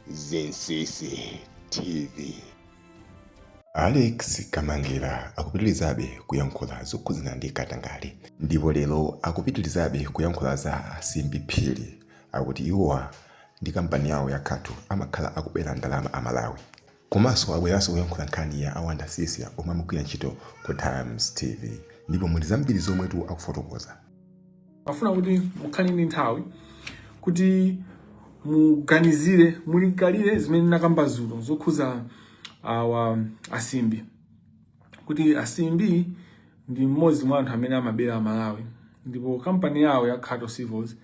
Zinsisi TV. Alex Kamangila akupitilizabe kuyankhula zokhudzana ndi katangale ndipo lero akupitilizabe kuyankhula za Simbi Phiri akuti iwowa ndi kampani yawo ya Khato amakhala akubera ndalama Amalawi. Komanso abweranso kuyankhula nkhani ya a Wonder Msiska omwe amagwira ntchito ku Times TV ndipo muli zambiri zomwetu akufotokoza. Ndimafuna kuti mukhale ndi nthawi kuti muganizire, mulingalire zimene ndinakamba dzulo zokhuza awa asimbi kuti asimbi ndi mmodzi mwa anthu amene amabera amalawi ndipo kampani yawo ya Khato Civils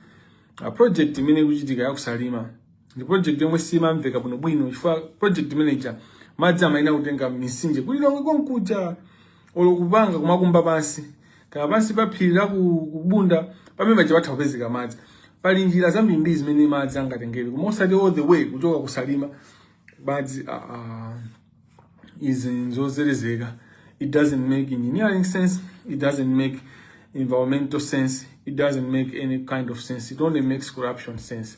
a project imene ikuchitika yakusalima ndi project yomwe simamveka bwino bwino chifukwa project mwanaje madzi amayenera kutenga mitsinje ku lilongwe konkuja olo kupanga kumakumba pansi kaya pansi pa phiri la ku- kubunda pamene paja patha kupezeka madzi pali njira zambirimbiri zimene madzi angatengere koma osati all the way kuchoka kusalima madzi ah, ah, izi nzozerezeka it doesn't make engineering sense it doesn't make environmental sense it doesn't make any kind of sense it only makes corruption sense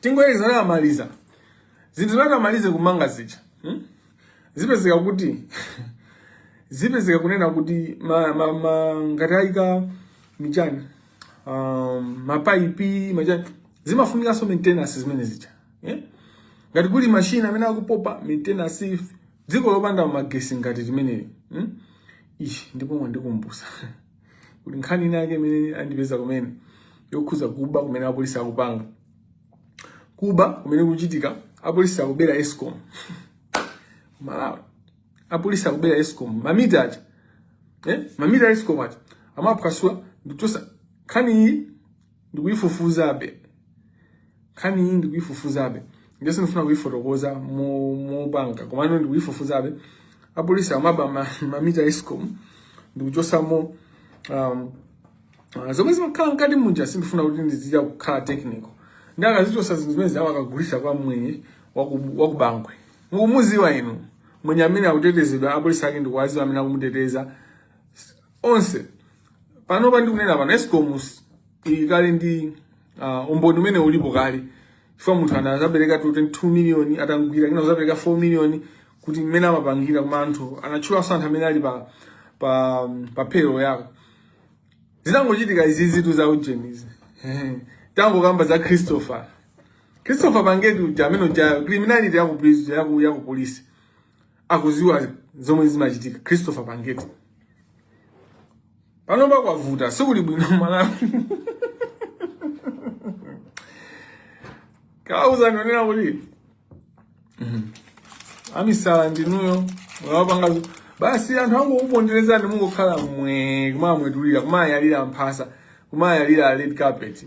tingoyerekeza kuti amaliza zinthu zimenezi amalize kumanga zija hmm? zipezeka kuti zipezeka kunena kuti ma, ma, ma, ngati ayika machani um, mapaipi machani zimafunikanso maintenance zimenezija yeah? ngati kuli mashini amene akupopa, maintenance dziko lopanda magesi ngati limeneli hmm? ishi ndipo mwandikumbusa kuti nkhani ina yake imene andipeza kumene yokhuza kuba kumene apolisi akupanga kuba kumene kuchitika apolisi akubera escom malawi apolisi akubera escom mamita aja eh? mamita a escom aja amaphwasula ndikuchosa nkhani iyi ndikuyifufuzabe nkhani iyi ndikuyifufuzabe nde sindifuna kuyifotokoza mo- mopanga komano ndikuyifufuzabe apolisi amaba ma- mamita a escom ndikuchosamo um, Ah, zomwe zimakhala mkati muja sindifuna kuti ndiziya kukhala technical nde akazichosa zinthu zimenezo amakagulisa kwa mwenye waku- wakubangwe mukumuziwa inu mwenye amene akutetezedwa, apolisi ake ndikuwaziwa amene akumuteteza onse panopa ndikunena pano escom ili kale ndi uh, umboni umene ulipo kale chifukwa munthu wina anazapereka 22 million atamugwira kenako kuzapereka 4 million kuti mmene amapangira koma anthu anatchulanso anthu amene ali pa pa um, pa payroll yako zinangochitika izi zitu za ujeni izi tangokamba za christopher christopher pangeti uja amene uja criminality yaku prison yaku yaku police akuziwa zomwe zimachitika Christopher pa ground panopa kwavuta sikuli bwino amalawi kuwauza kunena kuti mhm. amisala ndinuyo mwapanga basi anthu angokuponderezani mungokhala inu kumawamwetulira kumawayalira mphasa kumawayalira red carpet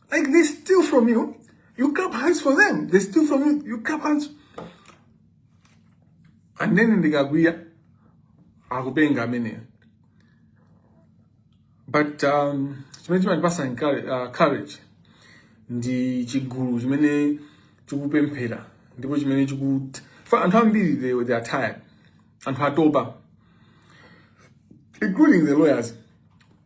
Like they steal from you, you clap hands for them. They steal from you, you clap hands. And then ndikakwiya, akupenga amene. But um, chimene chimandipasa uh, courage ndi chigulu chimene chikupemphera ndipo chimene chikut anthu ambiri they, they are tired anthu atopa including the lawyers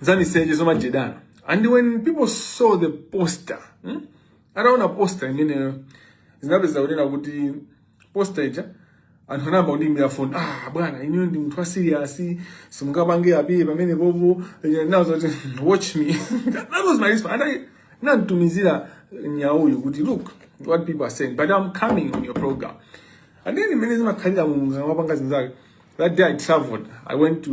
zamiseche zomajedana and when people saw the poster hmm? ataona poster imeneyo zinapeza kunena kuti poster ija anthu anayamba kundiimbira foni ah bwana ineyo ndi munthu wasiriyasi simungapange apiye pamene popo nazo kuti watch me that was my response and ananditumizira nyauyu kuti look what people are saying but i'm coming on your program and then imene zimakhalira mulungu akamapanga zinthu zake that day i traveled i went to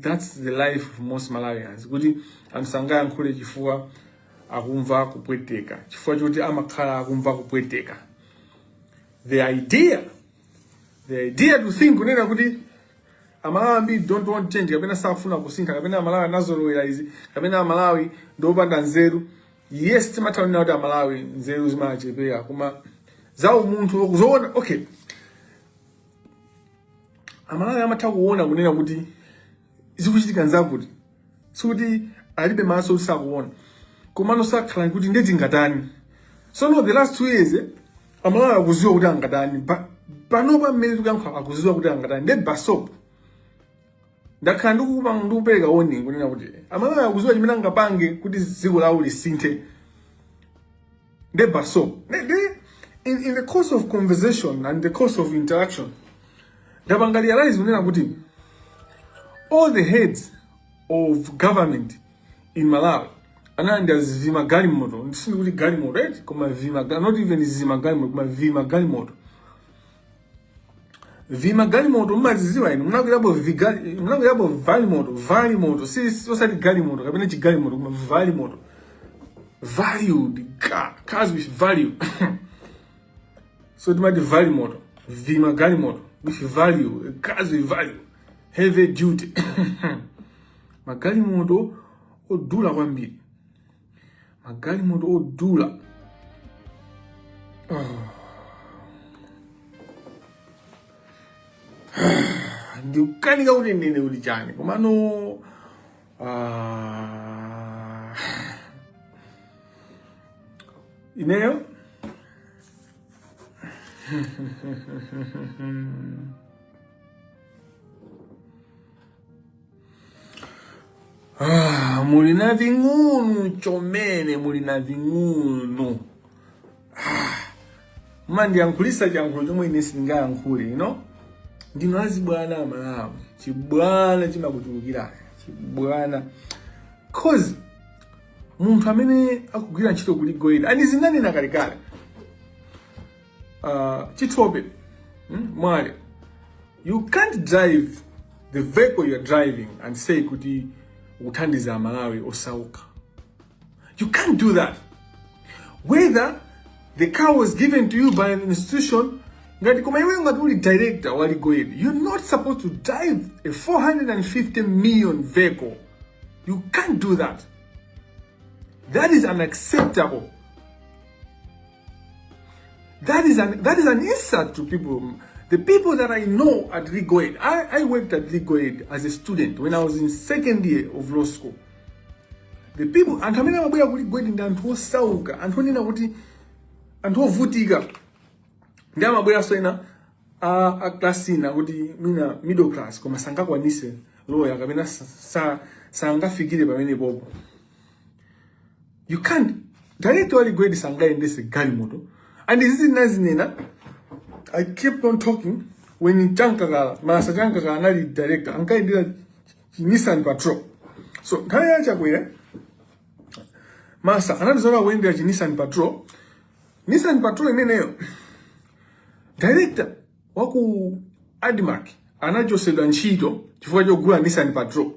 That's the life of most Malawians. Kuti anthu sangayankhule chifukwa akumva kupweteka. Chifukwa choti amakhala akumva kupweteka. The idea, the idea to think kunena kuti amalawi ambiri don't want change kapena sakufuna kusintha kapena amalawi anazolowera izi kapena amalawi ndiopanda nzeru yes timatha kunena kuti amalawi nzeru zimawachepera koma za umunthu zoona okay amalawi amatha kuona kunena kuti zikuchitika nzakuti sikuti alibe maso kuti sakuona komano amakhala kuti nde tingatani so no the last two years eh, amalawi akuziwa kuti angatani Pa- panopa mmene tikuyankhula akuziwa kuti angatani nde basop ndakhala ndikupanga ndikupereka warning kunena kuti amalawi akuziwa chimene angapange kuti dziko lawo lisinthe nde basop Ne- ne- in, in the course of conversation and the course of interaction ndapanga realize kunena kuti all the heads of government in malawi analandira zivima galimoto ndisini kuti galimoto eti koma vima ga- not even zima galimoto koma vima galimoto vimagalimoto mumaziziwa inu munakwirapo vigali- munakwirapo valimoto valimoto si si- osati galimoto kapena chigalimoto koma valimoto valued ca- cars with value so timati valimoto vimagalimoto with value cars with value heavy duty magalimoto odula kwambiri magalimoto odula oh. ndikukanika kuti ndinene kuti chani komano ah, ineyo Ah, muli na ving'unu chomene muli na ving'unu ah, mumandiyankhulisa chiyankhulo chomwe ine sindingayankhule you know? ndinu azibwana amalawi chibwana chimakuchulukirani chibwana cause munthu amene akugwira ntchito ku Legal Aid and izi zinanena kalekale Uh, chithobe hmm? mwale you can't drive the vehicle you're driving and say kuti ukuthandiza amalawi osauka you can't do that whether the car was given to you by an institution ngati koma iwe ngati uli director wa legal aid you're not supposed to drive a 450 million vehicle you can't do that that is unacceptable That is an that is an insult to people. The people that I know at Legal Aid, I, I worked at Legal Aid as a student when I was in second year of law school. The people anthu amene amabwera ku Legal Aid ndi anthu osauka, anthu onena kuti anthu ovutika. Ndi amabweranso ena a, a class inayake timati middle class koma sangakwanise loya kapena sa- sa- sangafikire pamene popo. you can't director wa Legal Aid sangayendese galimoto and izi ndinazinena i kept on talking when Chamkakala Masa Chamkakala anali director ankayendera nissan patrol so nthawi ya chakwera masa ankatha kuyendera chi nissan patrol nissan patrol imeneyo director wa ku admarc anachosedwa ntchito chifukwa chogula nissan patrol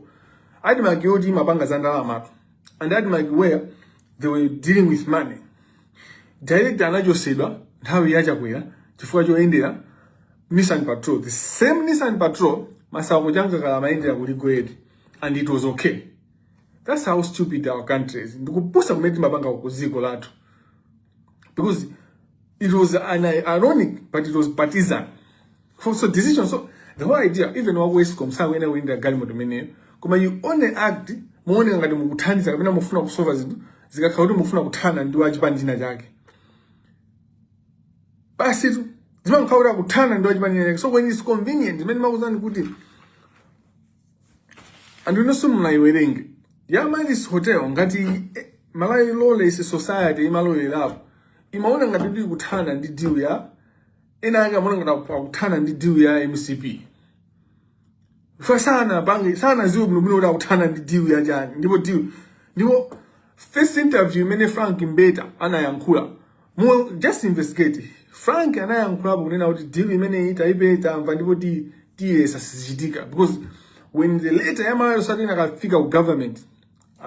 admarc yoti imapanga za ndalamatu and admarc where they were dealing with money director anachosedwa nthawi ya chakwera chifukwa choyendera nissan patrol the same nissan patrol masauko Chamkakala amayendera ku Legal Aid and it was okay that's how stupid our country is ndikupusa kumene timapanga ku dziko lathu because it was an ironic but it was partisan for so decision so the whole idea even wa ESCOM sakuyenera kuyendera galimoto imeneyo koma you only act muoneka ngati mukuthandiza kapena mufuna kusova zinthu zikakhala kuti mufuna kuthana ndi wachipani china chake basitu zimakhala kuti akuthana ndi wachipani china chake so when it's convenient ndimmene ndimakuuzani kuti anthu inonso mukayiwerenge ya Amaryllis Hotel ngati eh, Malawi Lawless Society imalowerapo imaona ngati kuti ikuthana ndi deal ya ena ake amaona ngati akuthana ndi deal ya MCP asanapange asanadziwe bwino bwino kuti akuthana ndi deal ya yani ndipo deal ndipo first interview imene Frank Mbeta anayankhula Mu just investigate. Frank anayankhulapo kunena kuti deal imeneyi taipe tamva ndipo ti tiyesa sizichitika because when the letter ya Malawi Society inakafika ku government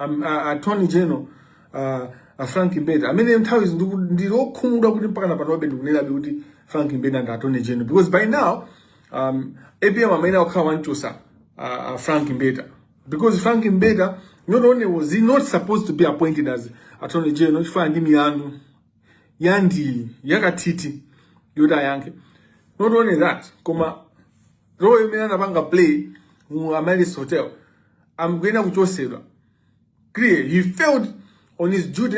um, uh, attorney general uh, uh, Frank Mbeta amene nthawi zina ndiku- ndili okhumudwa kuti mpaka napanobe ndikunenabe kuti Frank Mbeta ndi attorney general because by now um, APM amayenera kukhala atamuchotsa uh, uh, Frank Mbeta because Frank Mbeta not only was he not supposed to be appointed as attorney general chifukwa ali ndi milandu yambiri yakatiti yoti ayankhe not only that koma role imene anapanga play mu Amaryllis Hotel ankayenera kuchotsedwa clearly he failed on his duty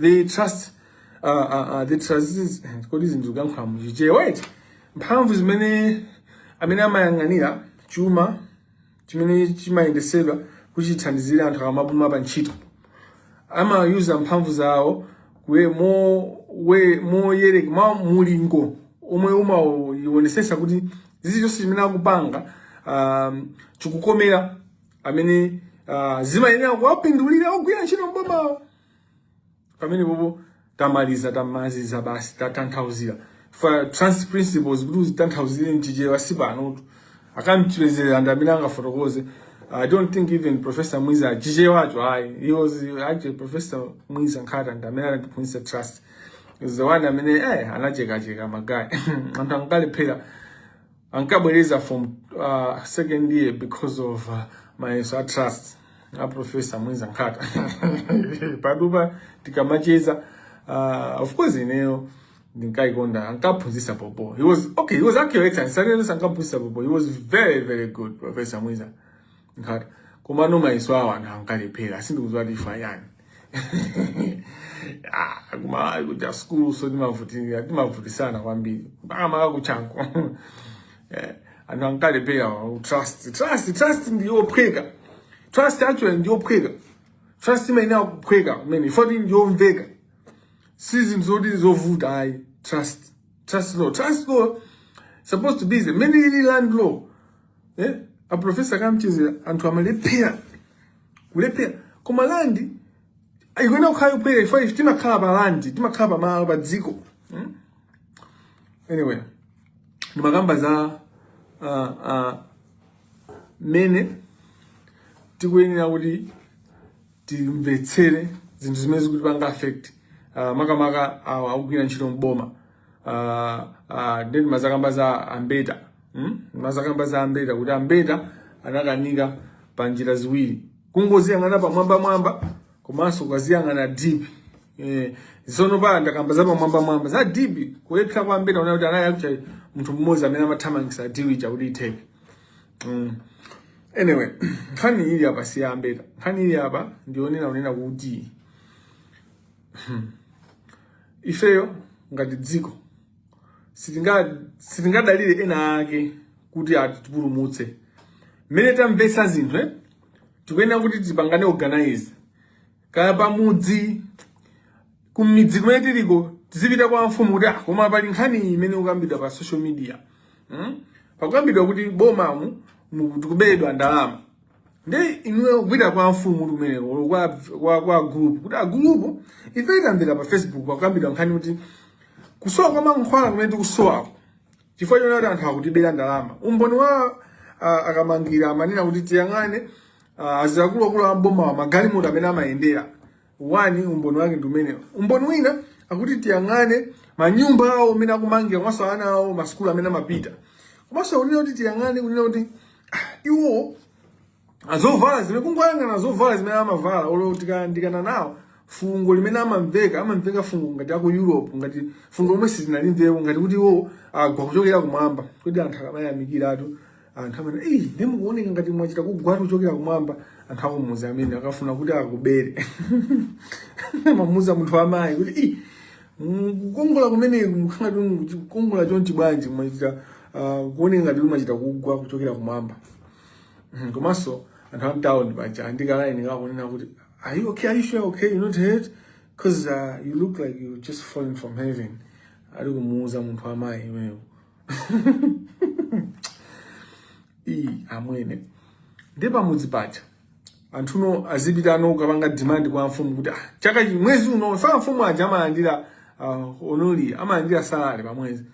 the trust uh, uh, uh, the trustees kodi zinthu kuyankhula muchichewa eti mphamvu zimene amene amayang'anira chuma chimene chimayendesedwa kuti chithandizire anthu akamapuma pa ntchito amayuza mphamvu zawo kuye mo- we- moyereka mwa mulingo omwe umaionesesa kuti chilichonse chimene akupanga um, chikukomera amene uh, chimayenera kuwapindulira ogwira ntchito mbomawo pamene bhobho tamaliza tamaziza basi tatanthauzira for trust principles kuti uzitanthauzire mchichewa si panotu a Kamchedzera ndi amene angafotokoze i don't think even professor mwiza a Chichewacho ayi he was actually professor mwiza nkhata ndi amene anatiphunzitsa trust is the one amene eh anachekacheka magayi anthu ankalephera ankabwereza from uh, second year because of uh, mayeso a trust a professor mwiza nkhata pajatu pa tikamacheza uh, of course ineyo ndinkaikonda ankaphunzisa bhobho he was okay he was actually excellent sanenesa ankaphunzisa bhobho he was very very good professor mwiza Ngat komano mayeso awo anthu ankalephera sindikudziwa kuti ifa chani Ah, kumalawi kuja skulu so timavutika timavutisana kwambiri makamaka kuchanko Eh, anthu ankalephera wa- trust trust trust ndiyophweka trust actually ndiyophweka trust imayenera kuphweka kumene ifoti ndiyomveka si zinthu zoti zovuta ayi trust trust law trust law supposed to be the mene ili land law eh a professor kamchedzera anthu amalephera kulephera koma landi ikuyenera kukhala yophweka ifa ife timakhala pa landi timakhala pa malo pa dziko hmm? anyway ndimakamba za uh, uh, mene tikuyenera kuti timvetsere zinthu zimene zikutipanga affect uh, makamaka awa akugwira ntchito mboma uh, uh, ndi mazakamba za ambeta hmm? mazakamba za ambeta kuti ambeta anakanika pa njira ziwiri kungoziyang'ana pamwamba mwamba komanso ukaziyang'ana deep eh, zono pa ndakamba za pamwamba mwamba za deep kulephera kwa ambeta unaona kuti anali akufuna munthu mmodzi amene amathamangisa diwi chakuti itheke mm. anyway nkhani ili apa si ya ambeta nkhani ili apa ndi yonena kunena kuti Hmm. Ifeyo ngati dziko sitingadalire ena ake kuti atipulumutse. Mmene tamvetsa zinthu eh? tikuyenera kuti tipangane organize kaya pamudzi kumidzi kumene tiliko tizipita kwa mfumu kuti ah, koma pali nkhani imene ikukambidwa pa social media hmm? pakukambidwa kuti bomamu tikubedwa ndalama ndiye inuyo kupita kwa mfumu kuti kumeneko olo kwa, kwa, kwa gulupu kuti agulupu ife tamva pa facebook pakukambidwa nkhani kuti kusowa kwa mankhwala kumene tikusowako chifukwa choona kuti anthu akutibera ndalama umboni wa uh, akamangira amanena kuti tiyang'ane uh, akuluakulu a m'boma magalimoto amene amayendera wani umboni wake ndi umenewo. Umboni wina akuti tiyang'ane manyumba awo amene akumanga komanso ana awo masukulu amene amapita komanso akunena kuti tiyang'ane kunena kuti ah, iwo azovala zimene kungoyang'ana zovala zimene amavala olo tikayandikana nawo fungo limene amamveka amamveka fungo ngati aku Europe ngati fungo lomwe sitinalimvepo ngati kuti iwo agwa kuchokera kumwamba kuti anthu akamayamikiratu anthu amene eyi ndi mukuoneka ngati mwachita kugwatu kuchokera kumwamba anthu akumuuza amene akafuna kuti akubere amamuuza munthu amayi kuti "Ih, mm, kukongola kumene mukhala kuti kukongola chonchi bwanji mwachita ah, kuoneka ngati kuti mwachita kugwa kuchokera kumwamba Mhm, komanso anthu amtown paja ali ndi kalaini kakunena kuti are you okay are you sure okay you not hurt because uh, you look like you just fallen from heaven ali kumuuza munthu amayi ameneyo iyi amwene ndi pamudzi paja anthuwo azipita anu kukapanga demand kwa mfumu kuti ah, chaka chi mwezi uno mafumu aja amalandira uh, onoli amalandira salary pa mwezi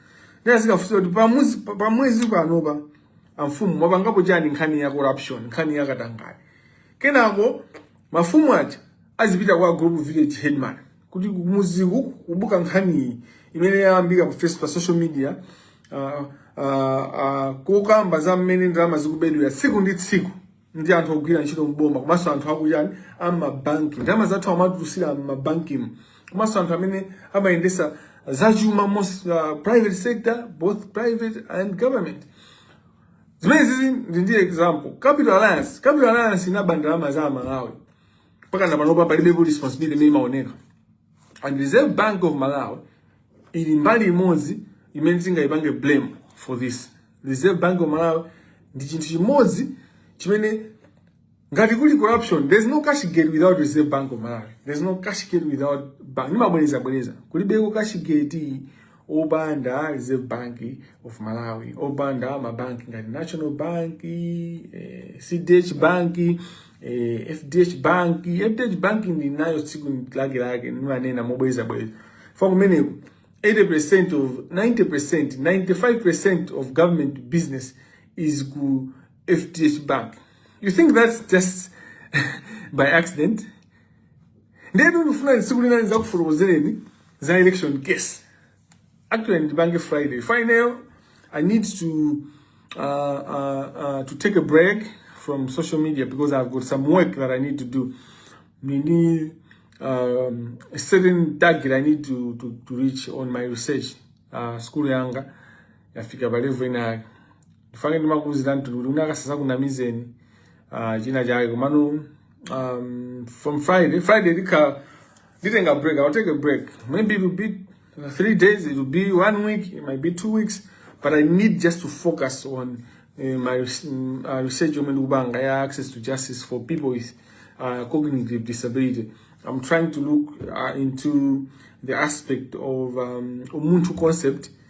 ndi azikafunsa kuti pa mwezi pa mwezi panopa amfumu mwapangapo chani nkhani ya corruption nkhani ya katangale kenako mafumu aja azipita kwa group village headman kuti kumuziku kwabuka nkhaniyi imene yayambika pa Facebook pa social media uh, uh, uh, kukamba za mmene ndalama zikubedwera tsiku ndi tsiku ndi anthu ogwira ntchito mboma komanso anthu akuyani amabanki ndalama zathu amatisungira mmabankimu komanso anthu amene amayendesa zachuma most uh, private sector both private and government zimene zizi ndi ndi example Capital Alliance Capital Alliance inaba ndalama za amalawi mpakana panopa palibepo responsibility imene imaoneka and reserve bank of malawi ili mbali imodzi imene tingayipange blame for this reserve bank of malawi ndi chinthu chimodzi chimene ngati kuli corruption there's no cash gate without reserve bank of malawi there's no cash gate without bank ndimabwerezabwereza kulibeko cash gate opanda Reserve Bank of Malawi, opanda mabanki ngati National Bank, eh, CDH Bank, eh, FDH Bank. FDH Bank ndi nayo tsiku lake lake nimanena mobweza bweza. Fa kumeneko 80% of 90%, 95% of government business is ku FDH Bank. You think that's just by accident? ndiye ndikufuna tsiku lina ndidzakufotokozereni za election case actually ndipange friday final i need to uh, uh, uh, to take a break from social media because i've got some work that i need to do nini um, a certain target i need to, to, to reach on my research uh, school yanga yafika palevo inayake ndifane ndimakuuzira mtundu kuti unaka sasakunamizeni uh, china chake komano um, from friday friday ndikha nditenga break i'll take a break maybe it will be uh, three days it will be one week it might be two weeks but i need just to focus on uh, my res- mm, uh, research yomwe ndikupanga ya access to justice for people with uh, cognitive disability i'm trying to look uh, into the aspect of um, umunthu concept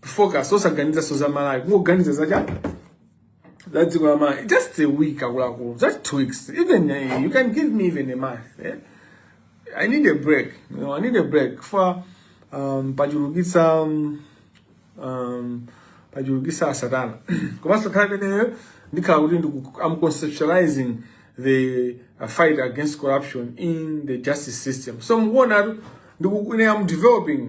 focus osaganizanso za malawi kungoganiza za chiyani za dziko la malawi just a week akuluakulu just two weeks even uh, you can give me even a month eh? i need a break you know, i need a break for um, pachulukitsa um, um, pachulukitsa satana komanso nkhani imeneyo ndikhala kuti ndiku- i'm conceptualizing the uh, fight against corruption in the justice system so mukuonatu ndikuti ine am developing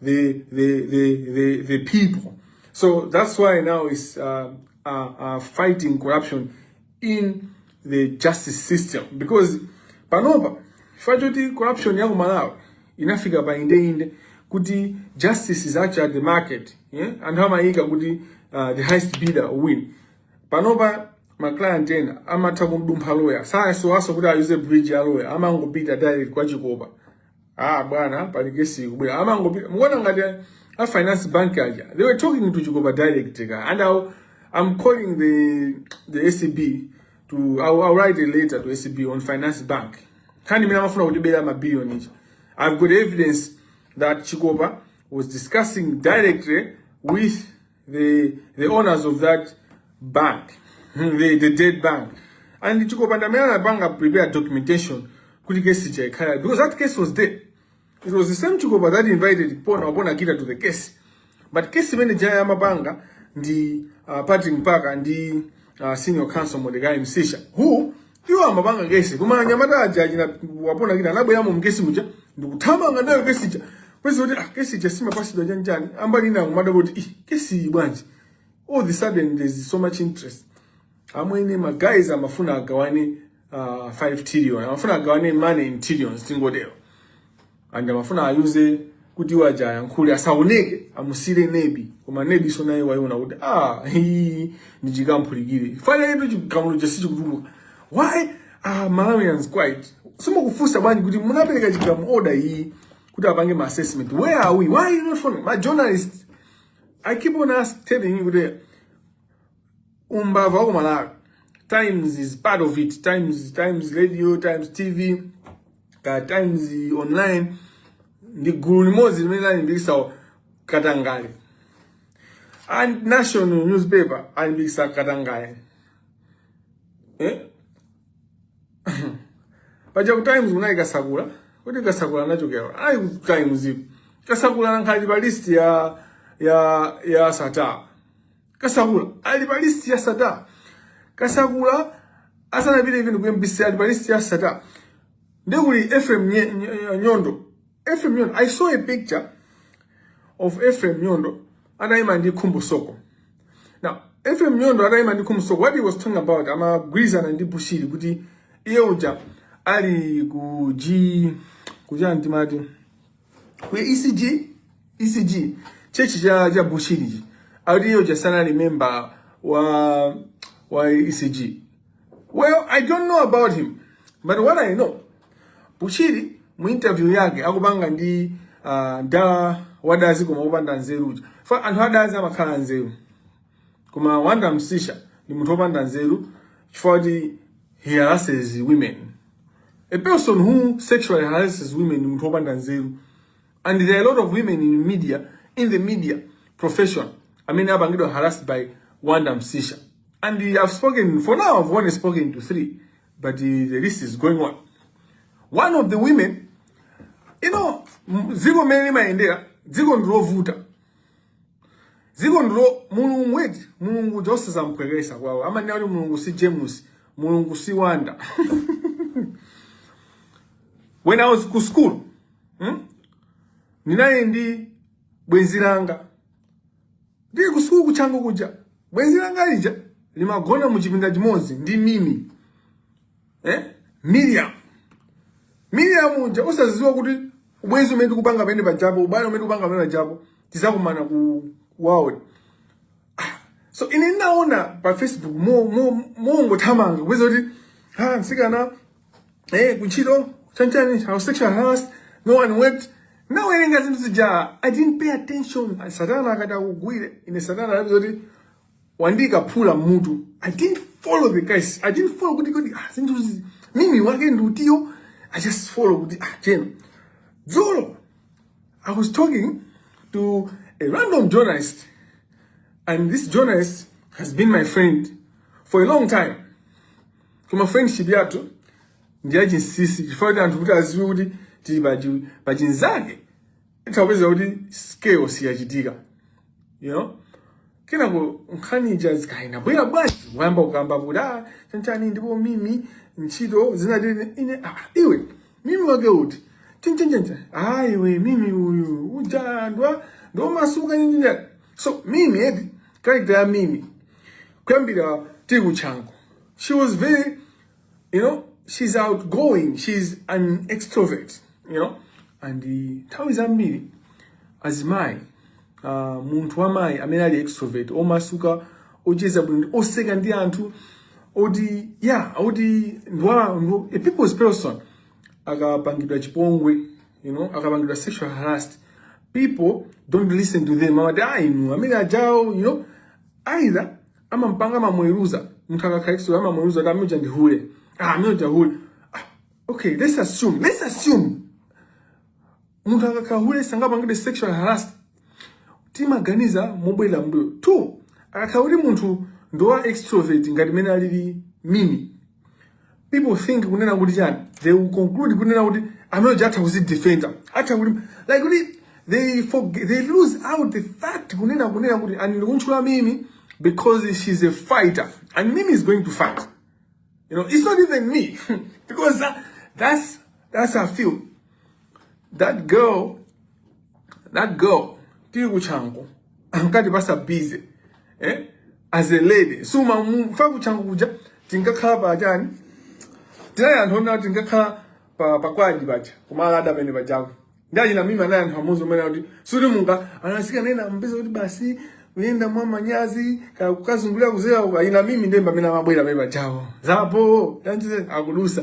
the, the, the, the, the people. So that's why now is uh, uh, uh, fighting corruption in the justice system because panopa chifukwa choti corruption ya ku Malawi inafika pa indeinde kuti justice is actually at the market yeah? anthu amayika kuti uh, the highest bidder win panopa maclient ena amatha kumudumpha loya sakusowanso kuti ayuze bridge ya loya amangopita direct kwa chikopa Ah bwana, pali kesi ikubwera. Amangopita. Muona ngati a finance bank aja. They were talking to Chikopa direct ka. And I'll, I'm calling the the ACB to I'll, I'll write a letter to ACB on finance bank. Kani mina mafuna kutibera ma billion ichi. I've got evidence that Chikopa was discussing directly with the, the owners of that bank, the, the dead bank. And Chikopanda Mela Bank prepared documentation kuti case chaikhala because that case was there. It was the same Chikopa that invited Pona Obona Kita to the case. But case manager ya mabanga ndi uh, Patrick Mpaka ndi uh, senior counsel Mordecai Msisha who iwo amapanga kesi koma anyamata aja achina wapona kina anabweramo mkesi muja ndikuthamanga nayo kesi ija kwezi kuti ah kesi ija simapasidwa chanichani a mbali ina kumadabwa kuti ih kesi iyi bwanji all of a sudden there's so much interest amwene ma guys amafuna agawane uh, 5 trillion amafuna agawane money in trillions tingotero aja amafuna ayuze kuti iwo aja ayankhule asaoneke amusiyire nebi koma nebi so naye waiona kuti ah hii ndi chikamphulikira fana ipo chigamulo chake si chikutuluka why ah malawians quiet simukufunsa bwanji kuti munapereka chigamu order iyi kuti apange ma assessment where are we why you not inuyo ma journalist i keep on ask telling you kuti umbava wa kumalawi times is part of it times times radio times tv ka times online ndi gulu limodzi limene lalimbikitsa katangale and nation newspaper alimbikitsa katangale eh? paja ku times kunali kasakula kuti kasakula anachokera ayi ku times ipo kasakula anakhala pa list ya ya ya sata kasakula ali pa list ya sata kasakula asanapite even ku mbc ali pa list ya sata nde kuli efrem Nye- Nye- nyondo efrem nyondo i saw a picture of efrem nyondo atayima ndi khumbo soko now efrem nyondo atayima ndi khumbo soko what he was talking about amagwirizana ndi bushiri kuti iye uja ali ku g kuchani timati ku ECG ECG church cha cha Bushiri akuti iyo jasana member wa wa ECG well I don't know about him but what I know Bushiri mu interview yake akupanga ndi uh, wadazi koma kupanda nzeru uja anthu adazi amakhala anzeru koma wanda msisha ndi munthu opanda nzeru chifukwa kuti he harasses women a person who sexually harasses women munthu opanda nzeru and there are a lot of women in media in the media profession amene apangidwa harassed by wanda msisha and i've spoken for now i've only spoken to three but uh, the list is going on one of the women you know m- dziko mmene limayendera dziko ndilovuta Ziko ndi lo mulungu eti mulungu uja osazamphwekesa paja amanena kuti mulungu si James mulungu si Wanda when I was ku school ndinali ndi bwenzi langa tili ku school ku Chanco kuja bwenzi langa lija limagona mu chipinda chimodzi ndi mimi eh? Miriam Miriam uja osaziwa kuti ubwenzi umene tikupanga pamene pajapo ubale umene tikupanga pamene pajapo tizakumana ku world ah, so ine ndinaona pa Facebook mo mo mo ngothamanga kupeza kuti ha ah, msikana eh kuntchito chanchani anali sexual harassed no one went nawerenga zinthu zija i didn't pay attention satana akati akugwire ine satana anati zoti andiika phula mmutu i didn't follow the guys i didn't follow kuti kodi ah, zinthu zi- mimi wake ndi utiyo i just followed kuti ah, jeno dzulo i was talking to a random journalist and this journalist has been my friend for a long time koma friendship yathu ndi yachinsisi chifukwa kuti anthu kuti aziwe kuti tili pachi- pachinzake utha kupeza kuti scale siyachitika you know kenako nkhani ija zikaina bwera bwanji wayamba kukamba kuti ah chanchani ndipo mimi ntchito zinati ine ah, iwe mimi wake uti chinchinchinchin ah iwe mimi uyu uja ndwa ndomasuka nyinyinya so mimi edi character ya mimi kuyambira tili ku Chanco she was very you know she's outgoing she's an extrovert you know and nthawi zambiri azimayi uh, munthu wamayi amene ali extrovert omasuka ocheza bwino oseka ndi anthu oti yeah oti ndwa ndwa- a people's person akapangidwa chipongwe you know akapangidwa sexual harassed people don't listen to them amati ah inu amene ajawo you know either amampanga amamuweruza munthu akakhala extro amamuweruza kuti amene uja ndi hule ah amene uja hule ah, okay let's assume let's assume munthu akakhala hule sangapangidwe sexual harassed timaganiza mobwerera mmbuyo two akakhala kuti munthu ndi wa extrovert ngati mene alili mimi people think kunena kuti chani they will conclude kunena kuti munthu uja atha kuzidefenda atha ku like kuti they forget, they lose out the fact kunena kunena kuti and ndikuntchula mimi because she's a fighter and mimi is going to fight you know it's not even me because that, that's that's how I feel that girl that girl tili kuchangu ankati pasa busy eh as a lady suma mfa kuchangu kuja tinkakhala pa chani tinali anthu onena kuti tinkakhala pa pakwaji paja kumala ada pene pajaku ndaji na mimi anaye anthu amuzi umene kuti suti munga anasika nena mpesa kuti basi uyenda mwa manyazi ka- kukazungulira kuzera uka ina mimi ndemba mimi namabwera pene pajaku zapo tanjize akudusa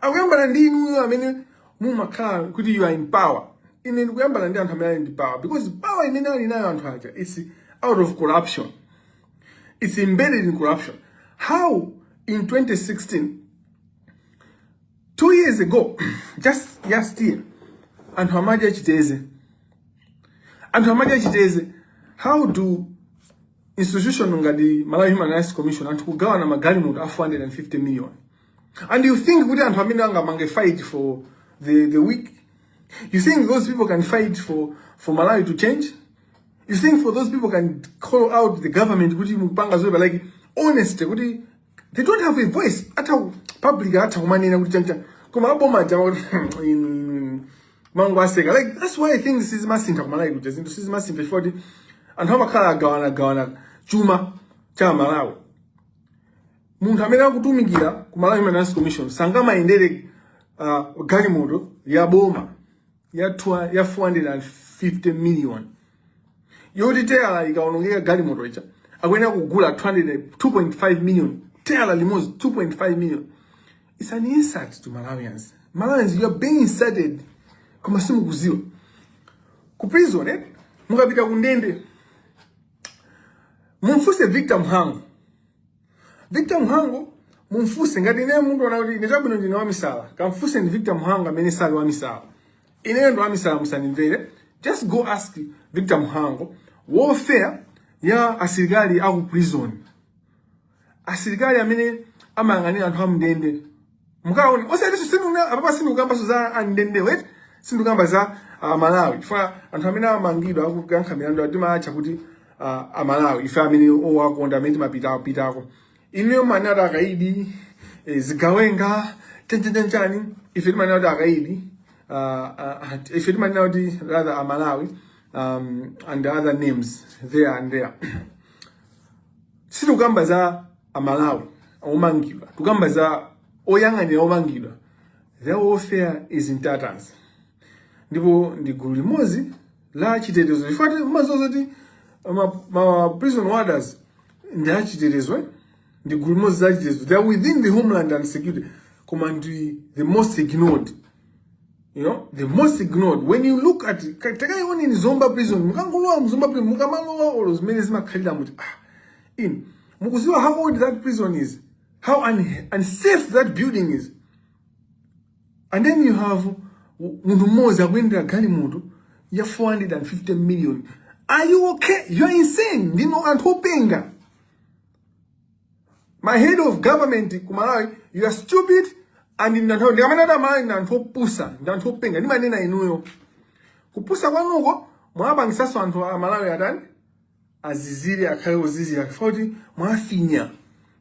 akuyambana ndi inuyo amene mumakhala kuti you are in power ine ndikuyambana ndi anthu amene ali ndi power because power imene ali nayo anthu aja it's out of corruption it's embedded in corruption how in 2016 two years ago just last year anthu amadya chiteze anthu amadya chiteze how do institutions ngati malawi human rights commission anthu kugawana magalimoto a 450 million And you think kuti anthu amene angamange fight for the, the weak? You think those people can fight for, for Malawi to change? You think for those people can call out the government kuti mupanga zoipa like honest kuti they don't have a voice at a public atha kumanena kuti chancha koma aboma aja in mango aseka like that's why things sizimasintha ku Malawi kuti zinthu sizimasintha chifukwa kuti anthu amakhala agawana agawana chuma cha Malawi munthu amene akutumikira ku Malawi Human Rights Commission sangamayendere uh, galimoto ya boma ya, twa, ya 450 million yoti teyala ikaonongeka galimoto ija akuyenera kugula 2.5 million teyala limodzi 2.5 million it's an insult to Malawians Malawians you are being insulted koma simukuziwa ku prison eh? mukapita ku ndende mumfunse victor mhango victor mhango mumfunse ngati ineyo mundiona kuti ine chabwino ndine wamisala kamfunseni victor mhango amene sali wamisala ineyo ndi wamisala musandimvere just go ask victor mhango welfare ya asilikali aku prison asilikali amene amayang'anira anthu amndende mukaone osatiso sinduna apapa sindukambaso za amndende wait sindukamba za uh, malawi chifukwa anthu amene amangidwa akukankha milandu timatcha kuti uh, amalawi ife amene owakonda amene timapitapitako ineyo amanena kuti akaidi eh, zigawenga chanchanchanchani ife timanena kuti akaidi uh, uh, ife timanena kuti rather amalawi um, and other names there and there sitikukamba za amalawi omangidwa tikukamba za oyang'anira omangidwa their welfare is in tatters ndipo ndi gulu limodzi la chitetezo chifukwa ti- umaziwa zoti ma, ma prison warders ndi achitetezo eh? ndi gulu limodzi la chitetezo they are within the homeland security koma ndi the most ignored you know the most ignored when you look at takaione ni zomba prison mukangolowa mu zomba prison mukamalowa olo zimene zimakhalira muti ah in mukuziwa how old that prison is how un unsafe that building is and then you have munthu mmodzi akuyendera galimoto ya 450 million are you okay you are insane ndinu anthu openga my head of government ku malawi you are stupid and ndanthu ndikamanena kuti amalawi ndi anthu opusa ndi anthu openga ndimanena inuyo kupusa kwanuko mwapangisanso anthu a malawi atani azizire akhale ozizira chifukwa choti mwafinya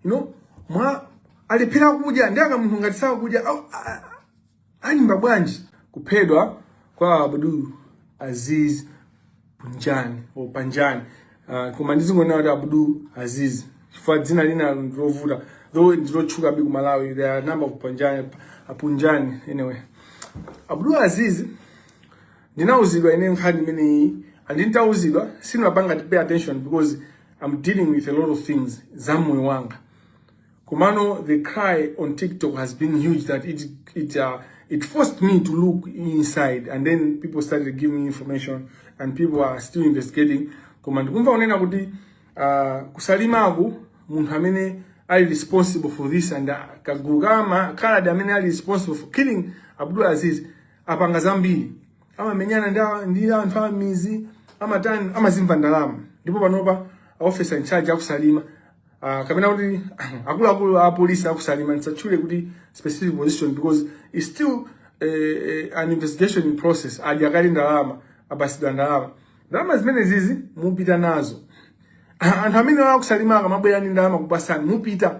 you know mwa akulephera kudya ndi aka munthu ngati sakudya au- a- a- Aimba bwanji kuphedwa kwa Abdul Aziz Punjani o Panjani uh, koma ndizingonena kuti Abdul Aziz chifukwa dzina lina ndilovuta though ndilotchuka bi ku Malawi there are number of Panjani Punjani anyway Abdul Aziz ndinauzidwa ine nkhani imeneyi and nditauzidwa sinapanga pay attention because I'm dealing with a lot of things za moyo wanga Komano the cry on TikTok has been huge that it it uh, it forced me to look inside and then people started giving me information and people are still investigating koma ndikumva kunena kuti uh, ku Salimaku munthu amene ali responsible for this and uh, kagulu kama kaladi amene ali responsible for killing Abdul Aziz apanga zambiri amamenyana ndi a- ndi anthu a m'midzi amatani amazimva ndalama ndipo panopa officer in charge a ku Salima uh, kapena kuti akuluakulu a polisi a ku Salima ndisatchule kuti specific position because it's still uh, uh, an investigation in process adya kale ndalama apatsidwa ndalama ndalama zimenezizi mupita nazo anthu amene a ku Salima akamabwera ndi ndalama kupatsani mupita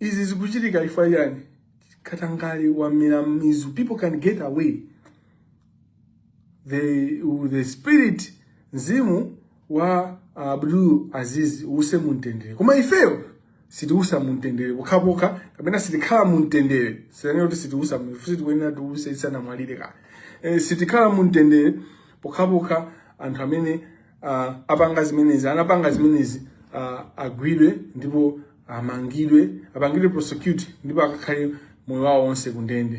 Izi zikuchitika chifukwa chani? Katangale wamera mizu. People can get away. The, the spirit mzimu wa Abdul Aziz uuse mumtendere. Koma ifeyo sitiusa mumtendere pokhapokha kapena sitikhala muntendere. Sindinene kuti sitiusa mfusi tikuyenera tiuse tisanamwalire kaye. E, sitikhala mumtendere pokhapokha anthu amene uh, apanga zimenezi anapanga zimenezi uh, agwidwe ndipo amangidwe apangidwe prosecute ndipo akakhale moyo wawo onse kundende